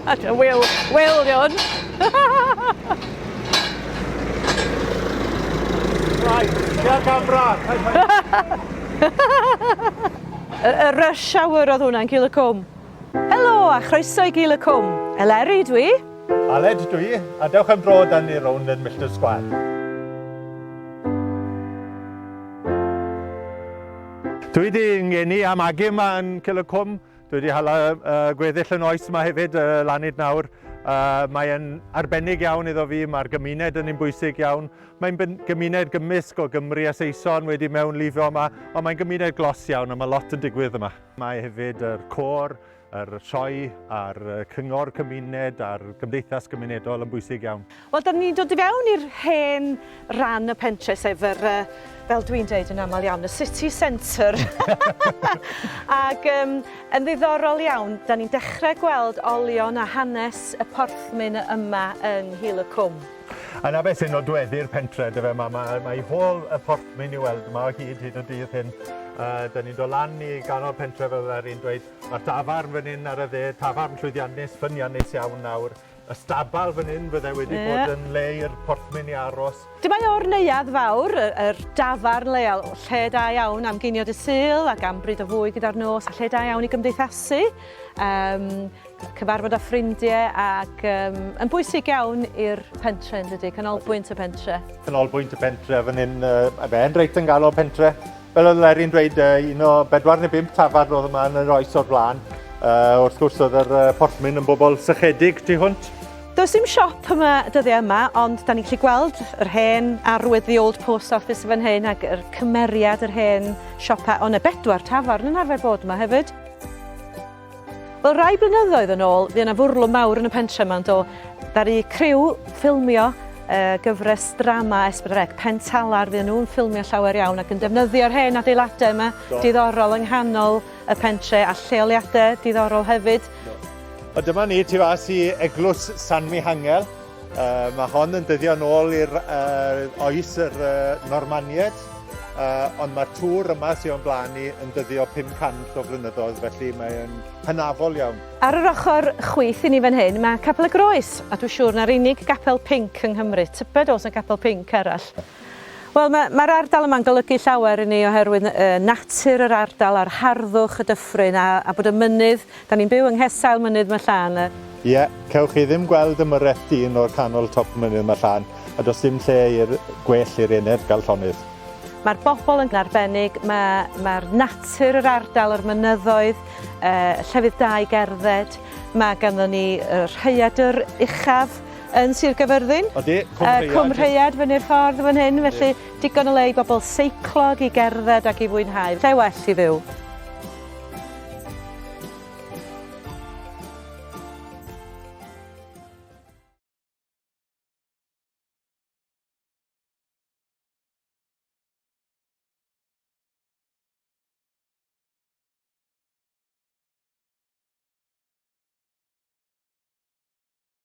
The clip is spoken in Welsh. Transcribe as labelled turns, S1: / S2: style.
S1: At y wyl, wyl yun. Rai, tua camera. Y rush hour oedd hwnna'n Gil y Cwm. Helo a chroeso i Gil y Cwm. Eleri dwi. Aled dwi, a dewch am dro dan ni rownd yn Millton Square. Dwi di ngeni am agu yma yn Cil y Cwm. Dwi wedi hala gweddill y noes yma hefyd lan hyd nawr. Mae'n arbennig iawn iddo fi, mae'r gymuned yn un bwysig iawn. Mae'n gymuned gymysg o Gymru a Saeson wedi mewn lifio yma, ond mae'n gymuned glos iawn a mae lot yn digwydd yma. Mae hefyd yr côr, yr sioe a'r cyngor cymuned a'r gymdeithas gymunedol yn bwysig iawn. Wel, dan ni'n dod i fewn i'r hen ran y pentre, sef yr, fel dwi'n dweud yn aml iawn, y city centre. Ac um, yn ddiddorol iawn, dan ni'n dechrau gweld olion a hanes y porthmyn yma yng Nghil y Cwm. Yna beth sy'n nodweddu'r pentre, dy fe, mae, mae, mae hôl y porthmyn i weld yma o hyd hyd y dydd hyn. Uh, da ni'n dod lan i ganol pentre fel yr un dweud, mae'r tafarn fan hyn ar y dde, tafarn llwyddiannus, ffyniannus iawn nawr. Y stabal fan hyn fydde wedi yeah. bod yn le i'r porthmyn i aros. Dyma o'r neuad fawr, yr dafarn leol, lle da iawn am geinio dy syl ac am bryd o fwy gyda'r nos, a lle da iawn i gymdeithasu, um, cyfarfod â ffrindiau ac um, yn bwysig iawn i'r pentre yn dydy, canolbwynt y pentre. Canolbwynt y pentre, fan hyn, uh, mae e'n reit yn galw pentre, Fel oedd Lerry'n dweud, un o bedwar neu bump tafarn oedd yma yn yr oes o'r blaen. Uh, wrth gwrs oedd yr uh, porthmyn yn bobl sychedig tu hwnt. Does dim siop yma dyddiau yma, ond da ni'n gallu gweld yr hen arwydd the old post office fan hyn ac yr cymeriad yr hen siopau, ond y bedwar tafarn yn arfer bod yma hefyd. Wel rai blynyddoedd yn ôl fuo na fwrlwm mawr yn y pentre yma do? Ddaru criw ffilmio uh, gyfres drama Esbydrec Pentalar fuo nhw'n ffilmio llawer iawn ac yn defnyddio'r hen adeiladau yma do. diddorol yng nghanol y pentre a lleoliadau diddorol hefyd. Do. O dyma ni tu fas i eglwys San Mihangel Uh, mae hon yn dyddio yn ôl i'r uh, oes yr uh, Normanied, uh, ond mae'r tŵr yma sy'n o'n blaen ni yn dyddio 500 o flynyddoedd, felly mae'n hynafol iawn. Ar yr ochr chwyth i ni fan hyn, mae Capel y Groes, a dwi'n siŵr na'r unig gapel pink yng Nghymru, tybed os y capel pink arall. Wel, ma, mae'r ardal yma'n golygu llawer i ni oherwydd y, natur yr ardal a'r harddwch, y dyffryn a, a bod y mynydd, 'da ni'n byw yng nghesail mynydd ma' Llan, y. Ie, cewch chi ddim gweld y myreth dyn o'r canol top mynydd ma' Llan, a does dim lle i'r, gwell i'r enedd gael llonydd. Mae'r bobl yn, arbennig, ma, mae'r natur yr ardal, yr mynyddoedd, y, llefydd da i gerdded, ma' ganddo ni y rhaeadr uchaf, yn Sir Gaerfyrddin. Odi, Cwm Rheiad. Yy Cwm Rheiad fyny'r ffordd fan hyn, felly digon o le i bobl seiclog, i gerdded ac i fwynhau. Lle well i fyw.